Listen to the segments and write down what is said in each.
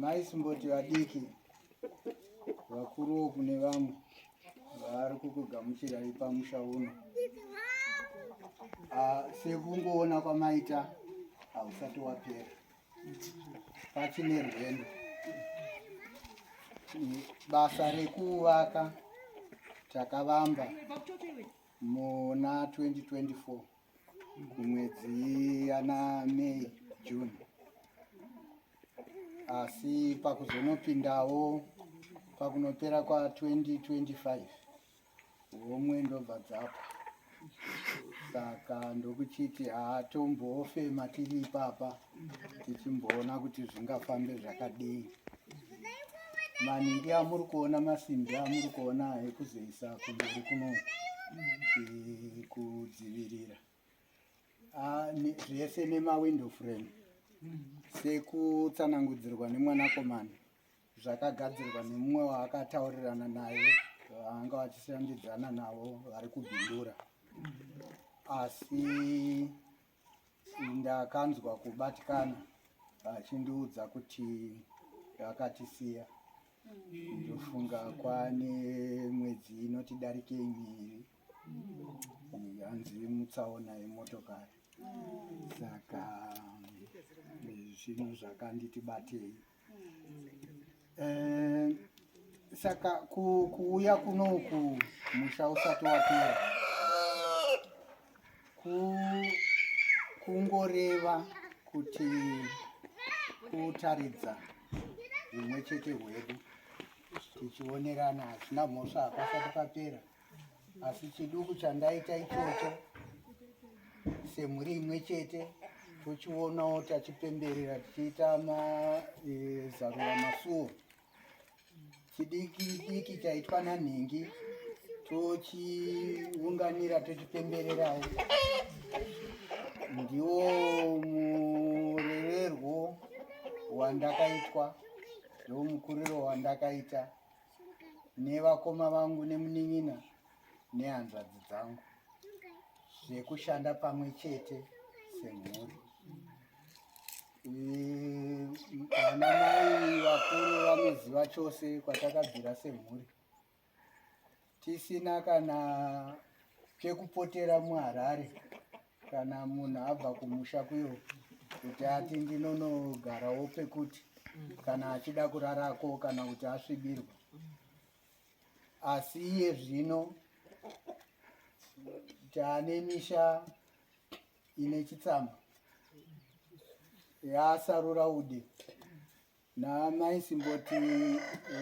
maisimboti vadiki vakuruwo kune vamwe vaari kukugamuchirai pamusha uno ah, sekungoona kwamaita hausati wapera pachine rwendo basa rekuvaka takavamba muna 2024 kumwedzi yana May June, asi pakuzonopindawo pakunopera kwa 2025 homwe ndobva dzapa saka ndokuchiti haatombofema tiri ipapa tichimboona kuti zvingafambe zvakadii maningi amuri kuona masimbi amuri kuona ekuzoisa kumberi kuno eh, kudzivirira ah, zvese nemawindow frame sekutsanangudzirwa nemwanakomana zvakagadzirwa nemumwe waakataurirana naye vaanga vachishandidzana navo vari kubhindura asi ndakanzwa kubatikana achindiudza kuti akatisiya ndofunga kwane mwedzi inoti darike miri hanzi mutsaona yemotokari saka zvinhu zvakanditi batei Eh, saka ku, kuuya kunoku musha usati wapera ku, kungoreva kuti kutaridza humwe chete hwedu tichionerana hazvina mhosva hapasati papera asi chiduku chandaita ichocho semhuri imwe chete tochionawo tachipemberera tichiita mazarura e, masuo chidiki diki chaitwa nanhingi tochiunganira tochipembererawo ndiwo mureverwo wandakaitwa ndomukuriro wandakaita nevakoma vangu nemunin'ina nehanzvadzi dzangu zvekushanda pamwe chete semhuri vana mai vakuru vanoziva chose kwatakabvira semhuri tisina kana pekupotera muharare kana munhu abva kumusha kuyo kuti ati ndinonogarawo pekuti kana achida kurarako kana kuti asvibirwa asi iye zvino taane misha ine chitsama yaasarura ude Naamai Simboti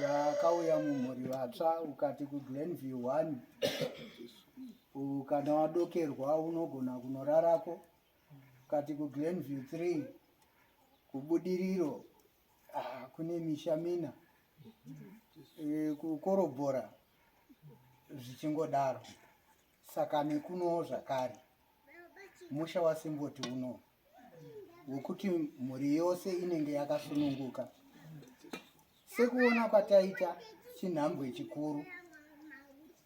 vakauya mumhuri vatsva ukati kuGlenview 1 kana wadokerwa unogona kunorarako ukati kuGlenview 3 kubudiriro ah, kune misha mina eh, kukorobhora zvichingodaro saka nekunowo zvakare musha wasimboti uno wekuti mhuri yose inenge yakasununguka sekuona kwataita chinhambwe chikuru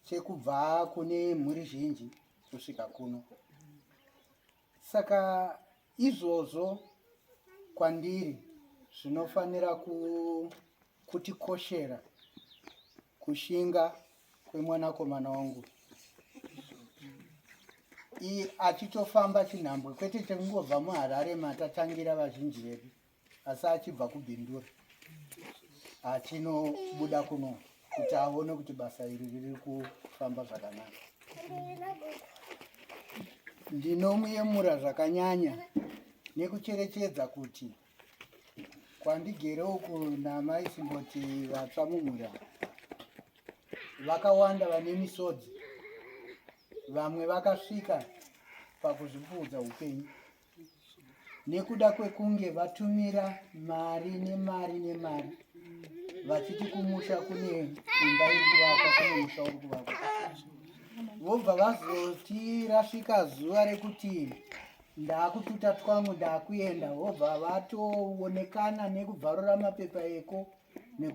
chekubva kune mhuri zhinji kusvika kuno saka izvozvo kwandiri zvinofanira kutikoshera kushinga kwemwanakomana wangu iyi achitofamba chinhambwe kwete chekungobva muharare matatangira vazhinji vedu asi achibva kubhindura achinobuda kuno kuti aone kuti basa iri riri kufamba zvakanaka ndinomuyemura zvakanyanya nekucherechedza kuti kwandigere uku namai simboti vatsva mumhuri ava vakawanda vane misodzi vamwe vakasvika pakuzvipfuudza upenyu nekuda kwekunge vatumira mari nemari nemari vachiti kumusha kune imba iri kuvakwa kune musha uri kuvakwa vobva vazoti rasvika zuva rekuti Ndakututa twangu ndakuenda hobva vatoonekana nekubvarura mapepa eko nekuti